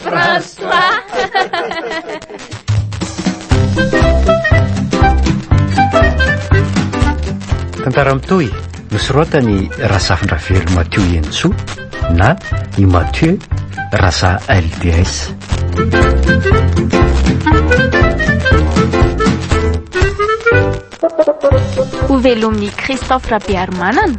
France 3 Tantara mitohy nosoratany Razafindravelo Mathieu Henintsoa na i Mathieu Raza LDS. Ho velomin'i Christophe Rabearimanana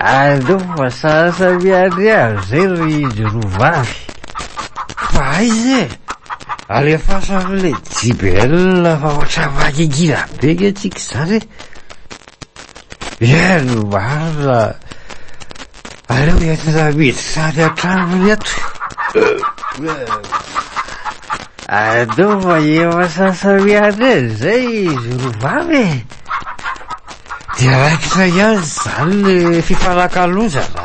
Aleo fa sasa miandry azy zay ry izy roa vavy. Fa aiza e? Alefaso an'ilay JBL fa ohatran'ny mangingina be nge tsika izany e. Iany no marina. Aleo entina miditra any an-tranony eto. Aleo fa efa sasa miandry azy zay izy roa vavy e. Dia raikitra ihany izany ny fifanakalozana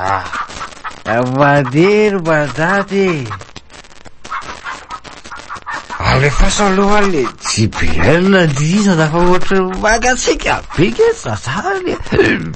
ah! Mandeha ry mandady e! Alefaso aloha le JBL andihizana fa ohatran'ny mangatsiaka be nge zazany e!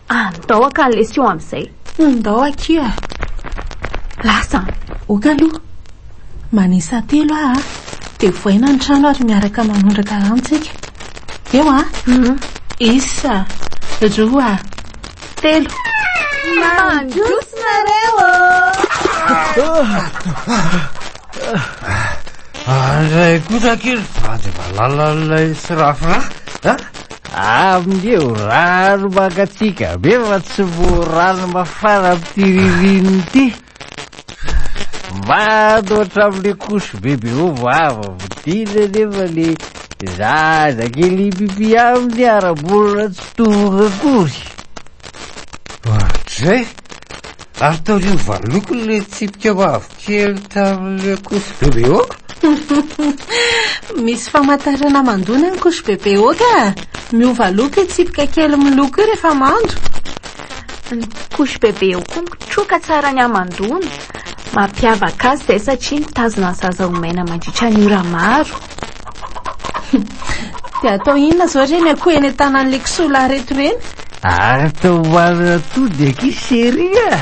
Andao aka ny lesy io amin'izay. Ndao akia a! Lasa an! Ok aloha. Manisa telo aho a! Dia voaina ny trano ary miaraka manondraka rano tsika. Eo a! Isa, roa, telo. Mandroso nareo ô! Andray kosa kely vady valala ilay sirafira a! Amin'io rano mangatsiaka be fa tsy voa rano mafana amin'ity ririnina ity. Mando hatramin'ilay couche bebe ao vava vidina nefa le zaza kely pipi aminy ara-bolana tsy tonga akory. Ohatrizay? Ary taorian'ny valoko ilay tsipika mavo. Kely tamin'ilay couche bebe ok? Misy famantarana mandoa ny an'ny couche bebe ok a! Miova loko io tsipika kely miloko io rehefa mando. Ny couche bebe ok koa mitroka tsara ny hamandoana. Mampiavaka azy izay satria mitazona ny zaza ho maina mandritra ny ora maro. Dia atao inona izao ireny akoho eny an-tanan'ilay kisoa lahy ireto ireny? Ary tao ho any atody akia chérie a!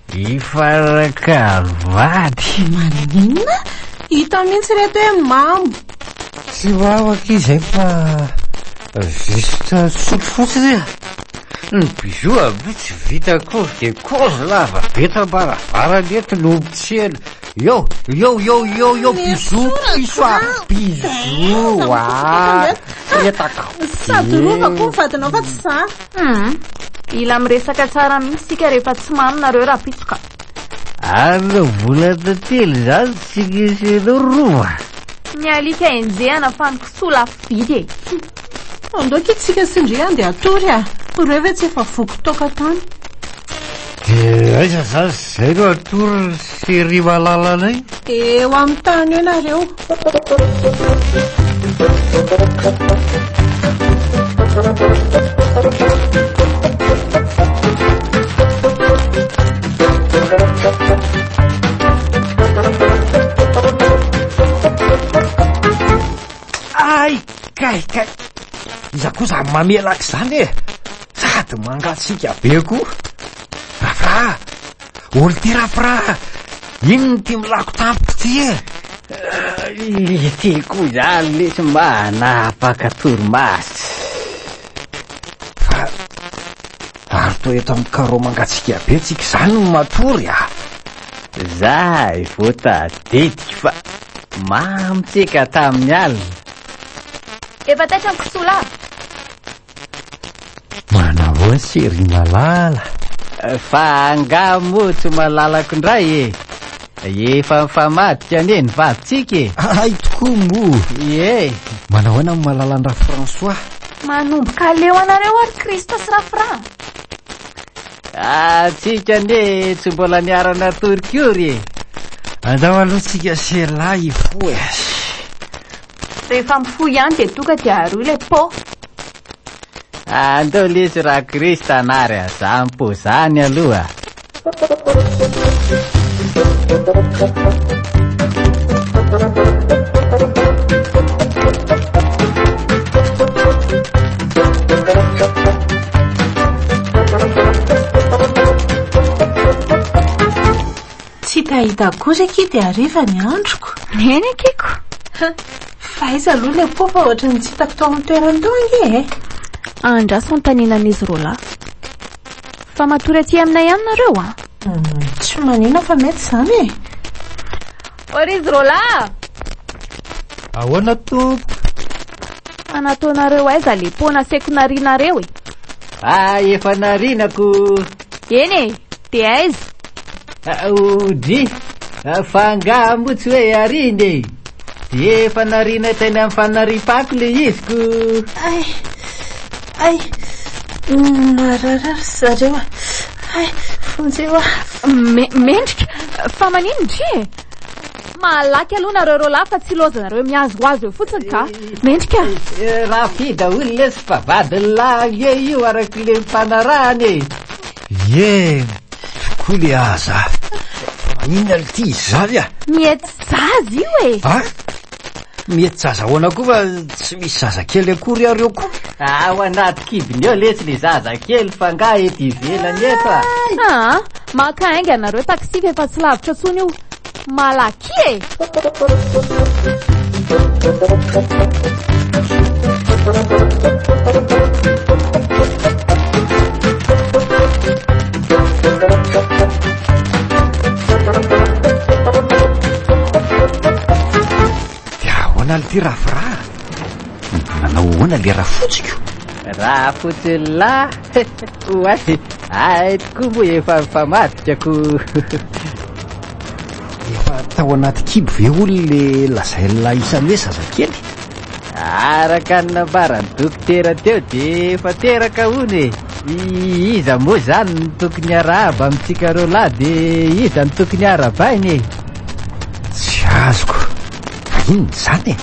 Hifaraka vady. Maninona? Hita mihitsy reto hoe mambo. Tsy wawa akia izay fa juste sotro fotsiny a! Ny bijoux aby tsy vita akory de kozy lava be tam-baravarana eto no ompitsiana Yo! Yo! Yo! Yo! Yo! Bijoux piso a! Bijoux a! Fretaka! Sady rova koa ny vadinao fa tsy za! Humm. Mila miresaka tsara mihitsy isika rehefa tsy mamy nareo rapitsoka. Ary volana telo izany tsy nisy anao rova. Ny alika enjehana fa ny kisoa lafo vidy e. Humm. Andao kitsika sy ndry andeha hatory a. Ireo ve tsy efa voky toaka tany. Dia aiza zany izay no atory sy ry malalanay? Dia eo amin'ny tany eo nareo. Ay, kay, kay. Iza kosa mamelaka izany e? Sady mangatsiaka be koa. Rafra! Olo ty rafra! Inona ty milako tampoka ty e? Ity koa izany lesy mba hanapaka torimaso. Fa ary toa eto amin'ny karao mangatsiaka be tsika izany no matory ah! Zahay vao tadidiko fa mamy tsika tamin'ny alina. Efa taitra ny kisola. Manao ase ry Malala. Fa angaha moa tsy malalako indray e? Efa mifamadika anie ny vadintsika e! Hay tokoa moa! Ie! Manao ahoana ny Malalan-dRaFrançois? Manomboka aleo anareo ary Christ sy Rafra! Antsika anie tsy mbola niara-natory kory e! Andao aloha tsika sy elah hifoha e! Rehefa mifoha ihany dia doka dia aroy ilay pot. Andao lesy raha Christ anary azany po zany aloha. Tsy hita hita akory akia dia hariva ny androko. Eny akiko. Fa aiza aloha ilay po fa ohatran'ny tsy hitako tao amin'ny toerany tao ange e. Andraso antaninan'izy roa lahy. Fa matory aty aminay ihany nareo a. Hmm, tsy manina fa mety izany e. O ry izy roa lahy. Ahoana tompoko? Fa nataonareo aiza le po naseko narinareo e. Fa efa narinako. Eny e, dia aiza? Aoudry, fa angaha moa tsy hoe arina e? Dia efa narina teny amin'ny fanariam-pako le iziko. Ay, ay, narara ry zareo a. Ay, vonjeo a. Me- mendrika, fa manino ndry e? Malaky aloha nareo roalahy fa tsy ilaozanareo mihazohazo eo fotsiny ka. Mendrika. Rafida olona sy fa vadin'ny lahy ange io arak'ilay mpanarahana e. Ie, tokoa le aza. Inona le ty izazy a? Mietsy zaza io e! A? Mietsy zaza ahoana koa fa tsy misy zazakely akory ary eo koa. Ao anaty kibony ao letsy le zazakely fa nga eto ivelany eto a. Aa, maka ainga nareo taxi fa efa tsy lavitra tsony io. Malaky e! Dia ahoana ity rafiraha? Nanao ahoana le rafotsiko? Rafotsy lahy! Oay! Ahy tokoa moa efa mifamadika ko! Efa tao anaty kibo ve hono le lazain'la isany hoe zazakely? Araka ny nambaran'ny dokotera teo dia efa teraka hono e! Iza moa izany no tokony hiarahaba amintsika roalahy dia iza no tokony harabaina e? Tsy azoko. Fa inona izany e?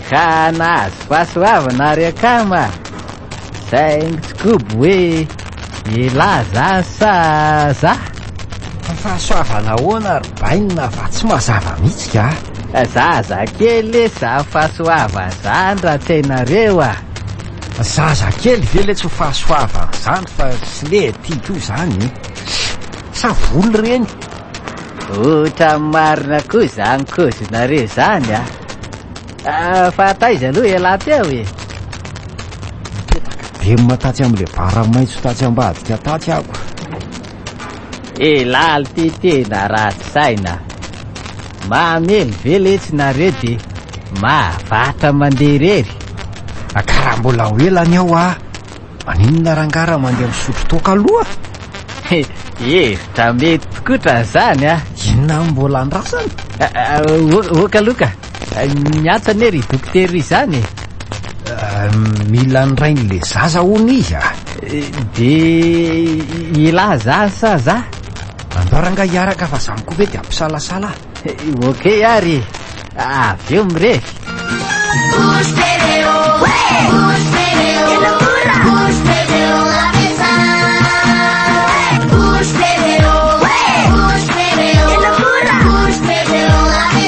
Ka nahazo fahasoavana ary akama! Thanks Kobo hoe elah za sa za? Fa fahasoavana ahoana ry bainina fa tsy mazava mihitsy ka. Zaza kely lesy ho fahasoavan'ny zandry raha tsy hainareo a! Zaza kely ve lesy ho fahasoavan'ny zandry fa tsy lety koa izany e! Sa voly ireny? Ohatran'ny marina koa izany cause-nareo izany a! Ah, fa taiza aloha elah teo e? Mipetraka velona tatsy amin'ilay bara maitso tatsy ambadika tatsy ako. Elaly ty tena ratsy saina. Mahamelo ve letsy nareo de mahavatra mandeha irery? Akara mbola ho ela ny ao ah. Maninona rangaha raha mandeha misotro toaka aloha? Hevitra mety tokotra izany ah. Inona mbola andrasana? Oka aloha ka. Niantsa anie ry dokotera izany e! Mila ny rain'ilay zaza hono izy a! Dia elah za sa za? Andao rangah hiaraka fa za koa ve dia hampisalasala a! Ok ary e! Avy eo mirevy!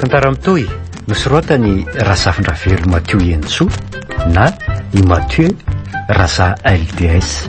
Tantara mitohy nosoratan'i Razafindravelo Matio Henintsoa na i Mathieu Raza LDS.